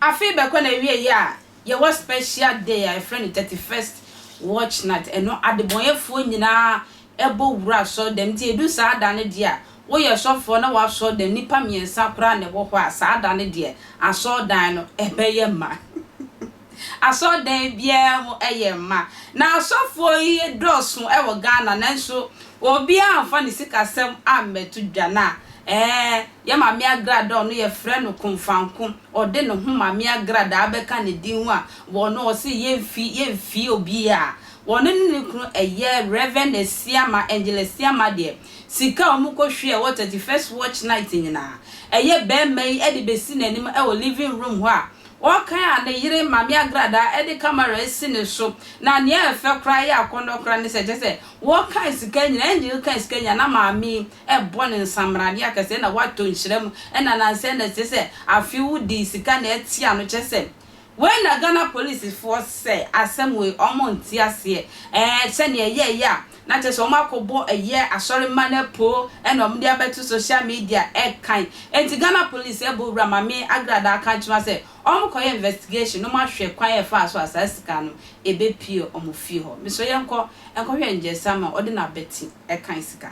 Afei bɛkɔ na ɛwie yi a yɛwɔ special day a yɛfrɛ no 31st watch night ɛno adebɔnyɛfoɔ nyinaa bɔ wura asɔrdan mu nti edu saa da no deɛ a woyɛ sɔfoɔ na w'asɔrdan nnipa mmiɛnsa koraa na ɛwɔ hɔ a saa da no deɛ asɔrdan no bɛyɛ ma asɔrdan biara mu yɛ ma na asɔfoɔ yi dɔɔso wɔ Ghana nanso obiara amfa ne sikasɛm ammɛto dwa na ɛɛ yɛ Maame Agrada a ɔno yɛfrɛ no Komfanko ɔde ne ho Maame Agrada abɛka ne din ho a ɔno ɔse yɛmfi yɛmfie obiara Wɔne ne ne kunu ɛyɛ Rev. Asiama, Angel Asiama deɛ, sika a wɔkɔhwiɛ wɔ thirty first watch night nyinaa, ɛyɛ barima yi de bɛsi n'anim wɔ living room hɔ a ɔrekan a ne yere Maame Agradaa de camera asi ne so. Na nea ɛyɛ fɛ koraa, ɛyɛ akɔnnɔ koraa ne sɛ, kyerɛ sɛ, wɔkan sika nyinaa, Angel kan sika nyinaa, na maame yi rebɔ no nsammraneɛ akɛse, ɛna watɔ nhyira mu, ɛna nansa, ɛna kyerɛ sɛ, afe wodii sika na ɛte ano, kyerɛ sɛ, Wei na Ghana polisifoɔ sɛ asɛm wei ɔmo nte aseɛ ɛɛ sɛnea ɛyɛɛyɛ a na kyerɛ sɛ ɔmo akɔbɔ ɛyɛ asɔre mma no apoo ɛna ɔmo de abɛto social media ɛkan ɛnti Ghana polisi ɛbɔ owura Mame Agrada aka akyerɛ wɔn sɛ ɔmo kɔyɛ investigation na ɔmo ahwɛ kwan a ɛfaa so a saa sika no ɛbɛpue ɔmo fie hɔ mesrɛ yɛnkɔ ɛnkɔhwɛ Ngyesama ɔde n'abati ɛkan sika.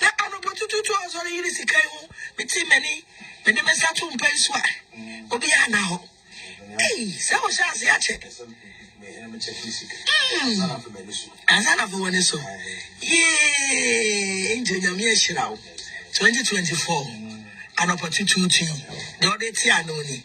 Na anɔpatutuutu a ɔsɔre yere sika yi ho, metee m'ani, mede me nsa too mpa yi so a, obiara nna hɔ. Ei, sɛ ɔhyɛ ase akyɛ! Mm, ansa na afei w'ani so. Yee, Angel, Nyame ahyira wo. 2024, anɔpatutuutu yi, deɛ ɔde te ano ni.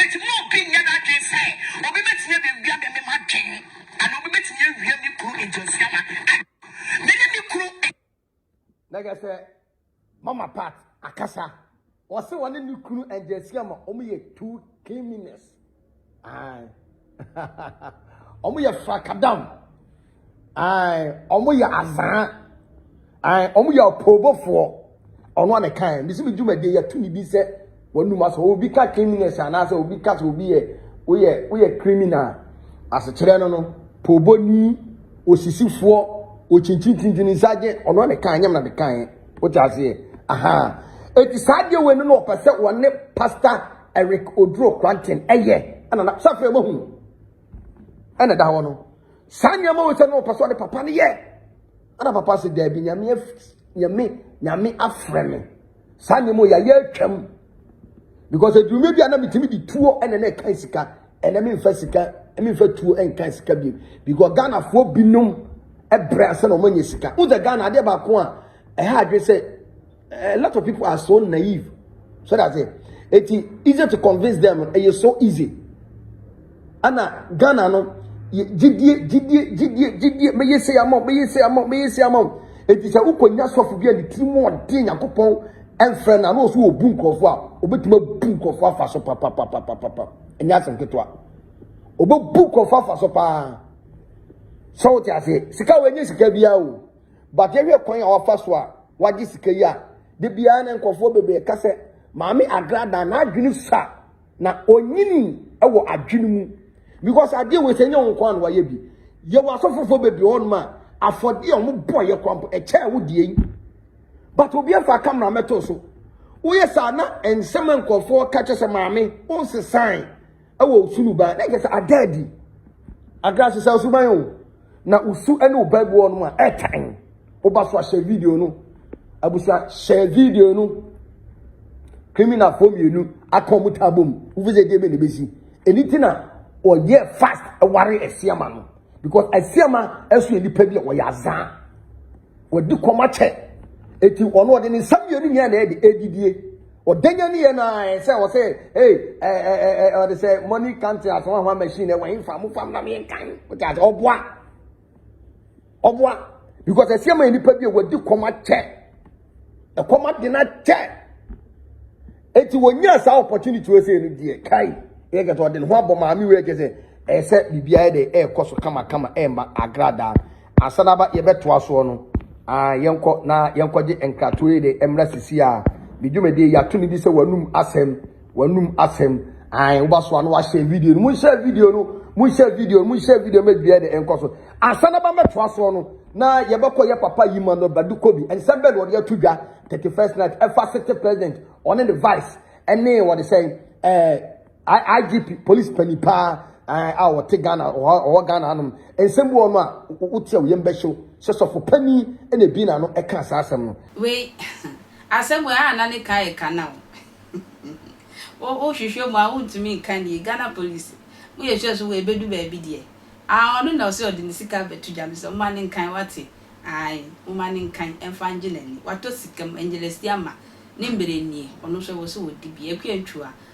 Enti mma obi nnyɛ n'adwene sɛ obi betumi abewia me ne m'adwene, anaa obi betumi awia me kunu nkyerɛase ama me ne me kunu. Na kyerɛ sɛ Mama Pat akasa. Ɔse ɔne ne kunu nkyerɛase ama wɔyɛ two cleanliness. Aye. Wɔn yɛ frakadam. Wɔn yɛ azaa. Wɔn yɛ apoobofoɔ. Ɔno a na kan. Bisi bi dwumadie yɛ tumi bi sɛ wɔn num asɔ. Obi ka criminals anaasɛ obi ka sɛ obi yɛ woyɛ woyɛ criminal. Asekyerɛ no no pooboni osisifoɔ okyinkyinkyinkyini sagye ɔno a na kan nyɛm na de kan. Wote aseɛ? Aha. Eti saa adeɛ wei no na ɔpɛ sɛ wɔne pastor Eric Oduro Kranten yɛ ɛna na sɛ afei mahu ɛna ɛda hɔ no saa nneɛma wɔ sɛ na ɔpɛ sɛ ɔde papa no yɛ ɛna papa sɛ daabi nyame nyame nyame afrɛ me saa nneɛma wɔ yɛayɛ atwam because adume bi a na metumi de tuo ɛna na ɛka sika ɛna memfa sika memfa tuo ɛnka sika bi because ghanafoɔ binom ɛbrɛ asɛ na ɔmanyɛ sika wosɛ ghana adeɛ baako a ɛha adwe sɛ A lot of people are so naive. So that's it. It's easy to convince them. It's so easy. Ana Ghana no gyidie gyidie gyidie gyidie meye se ama meye se ama meye se ama eti sɛ wokɔnya sɔfo bi a ne tiri mu ɔde nyankopɔn ɛmfrɛ no ano ɔso ɔbu nkurɔfoɔ a ɔbɛtumi abu nkurɔfoɔ afa so papapapapapa ɛnyɛ asɛm ketewa ɔbɛbu nkurɔfoɔ afa so paa sɛ wote aseɛ sika wɔ ɛnyɛ sika biara o But yɛhwɛ kwan a wafa so a wagye sika yi a, da biara na nkurɔfoɔ bebree ɛka sɛ Maame Agrada n'adwene sua na ɔnyini wɔ adwene mu because adeɛ wei sɛ nyɛ wo nko a na wayɛ bi. Yɛwɔ asɔfofoɔ bebree hɔ nom a afɔdeɛ a wɔn bɔ yɛ kwan po ɛkyɛɛ wo deɛ yi. But obi afa camera mɛto so. Woyɛ saa na nsɛm a nkurɔfoɔ ka kyɛ sɛ maame wonsesae. Ɛwɔ osu no ba na kyerɛ sɛ ada adi. Agra sesa osuban o. Na osu ne wo ba bi wɔ no a ɛtan. Wo ba so ahyɛ video no. Abusua hyɛ video no. Criminal fo mmienu aka wɔn ta abom. Wofi sɛ deɛ bɛ na ebesi. Ɛni ti na ɔyɛ fast ɛware asiama no. Because asiama ɛso yɛ nipa bi a ɔyɛ azaa. Wɔde kɔm akyɛ. Eti ɔno ɔde ne nsa mmienu nyinaa na ɛde ɛdidie. Ɔdanyani yɛ no ara sɛ ɔsɛ hey ɛɛ ɛɛ ɛɛ ɔde sɛ money counting asɔn ahwa machine ɛwɔ yi nfa mo fam na mi nkan o ti ase ɔboa ɔboa because ɛsi ɛma nipa bi a wɔdi kɔm akyɛ ɛkɔm adi na kyɛ eti wɔnyɛ saa opportunity wɔ sɛ ɛnu deɛ kai yɛ kɛtɛ ɔde ne ho abɔ maame wei kyɛ sɛ ɛsɛ biribiara de ɛɛkɔ so kamakama ɛɛma agradaa Asan aba yɛbɛtoa soɔ no aah yɛnkɔ na yɛnkɔgye nkratoɔ yi de mmra sisi a me dwumadie yɛato ne di sɛ wanum asɛm wanum asɛm aah woba so a na wahyɛ video no monhyɛ video no monhyɛ video no monhyɛ video no mɛdua de nkɔ so asan aba mɛtoa soɔ no na yɛbɛkɔ yɛ papa yi ma no badu kobi nsɛm bɛɛ na ɔde ato dwa 31st night ɛfa city president ɔne ne vice ɛne wɔde sɛ ɛɛ. IGP polisi panyin paa eh, a wɔte Ghana ɔwɔ Ghana anom nsɛm bi wɔ no a wote a yɛn bɛhyew sɛ sɔfo panyin na ebi na no ɛka saa asɛm no. Wei asɛm wei a na ne ka yɛ ka na o wohwehwɛ mu a wontumi nka nie Ghana polisi mo yɛ sure so wei bɛdu baabi deɛ ah ɔno na ɔsɛ ɔde ne sika bɛto dwa mesɛ moma ne nkan wate ai moma ne nkan ɛmfa ngye n'ani watɔ sika mu ɛngyelɛsi ama ne mmerɛ nie ɔno nso ɛwɔ sɛ ɔdi bi akua ntwu a